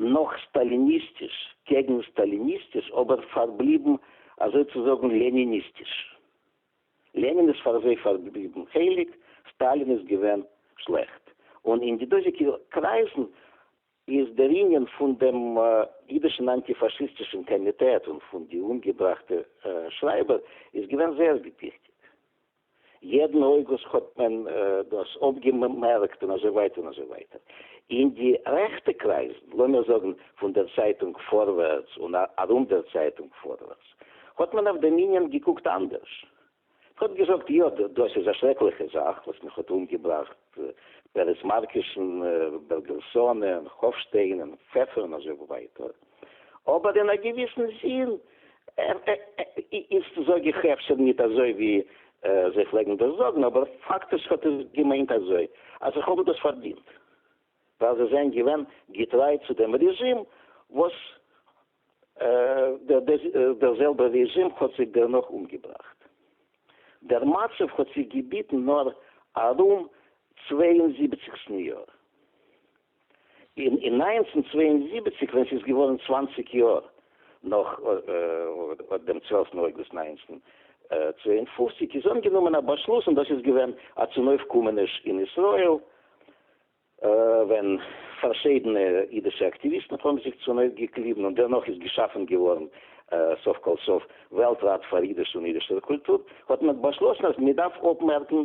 נאך סטאליניסטיש, קעגן סטאליניסטיש, אבער פארבליבן אזוי צו זאגן לעניניסטיש. לענין איז פאר זיי פארבליבן הייליג, סטאלין איז געווען שלעכט. און אין די דאזיגע קרייזן איז דער ענין פון דעם אידישן אנטי-פאשיסטישן קאמיטעט און פון די אומגעבראכטע שרייבער איז געווען זייער וויכטיג. יעדן אויגוסט האט מען דאס אויפגעמערקט און אזוי ווייטער און אזוי ווייטער. אין די רעכטע קרייזן, לאמיר זאגן פון דער צייטונג פארווערטס און ארום דער צייטונג פארווערטס, האט מען אויף דעם ענין געקוקט אנדערש. מען האט געזאגט, יא, דאס איז א שרעקליכע זאך וואס מיך האט אומגעבראכט, פערעס מארקישן, בערגעלסאן און האפשטיין און פעפער און אזוי ווייטער. אבער אין א געוויסן זין איז זאג איך אפשר ניט אזוי ווי זיי פלעגן דאס זאגן, אבער פאקטיש האט עס געמיינט אזוי, אז איך האב דאס פארדינט ווייל זיי זענען געווען געטריי צו דעם רעזשים וואס דער זעלבער רעזשים האט זיי דערנאך אומגעבראכט. דער מצב האט זיך געביטן נאר ארום צוויי און זיבעציק ס'ניו יאר. אין נײַנצן צוויי און זיבעציק ווען ס'איז געווארן צוואַנציק יאר נאך אט דעם צוועלפטן אויגוסט נײַנצן צוויי און פֿופֿציק איז אנגענומען א באשלוס און דאס איז געווען א צונויפקומעניש אין ישראל ווען פארשידענע אידישע אקטיוויסטן האבן זיך צונויפגעקליבן און דערנאך איז געשאפן געווארן סוף כל סוף וועלט ראט פאר אידיש און אידישער קולטור האט מען באשלאסן אז מ'דארף אפמערקן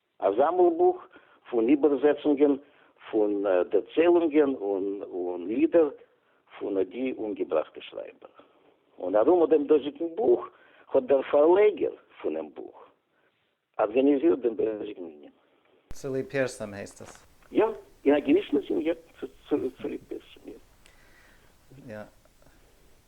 א זאמלבוך פון איבערזעצונגען פון דערציילונגען און לידער פון די אומגעבראכטע שרייבער. און ארום דעם דאזיקן בוך האט דער פארלעגער פונעם בוך ארגאניזירט דעם דאזיקן ענין. צוליב פרסום הייסט עס. יא, אין א געוויסן זין יא, צוליב פרסום, יא. יא.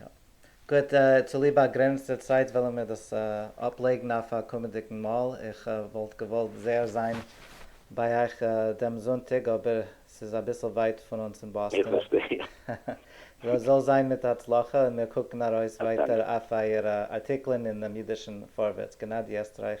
יא. גוט, צוליב באגרעניצטע צייט וועלן מיר דאס אפלייגן אויף א קומענדיגן מאל. איך וואלט געוואלט זייער זיין ביי אייך דעם זונטאג, אבער ס'איז אביסל ווייט פון אונז אין באסטאן. זאל זיין מיט הצלחה, און מיר קוקן ארויס ווייטער אויף אייערע ארטיקלען אינעם אידישן פארווערטס. גענאדי עסטרייך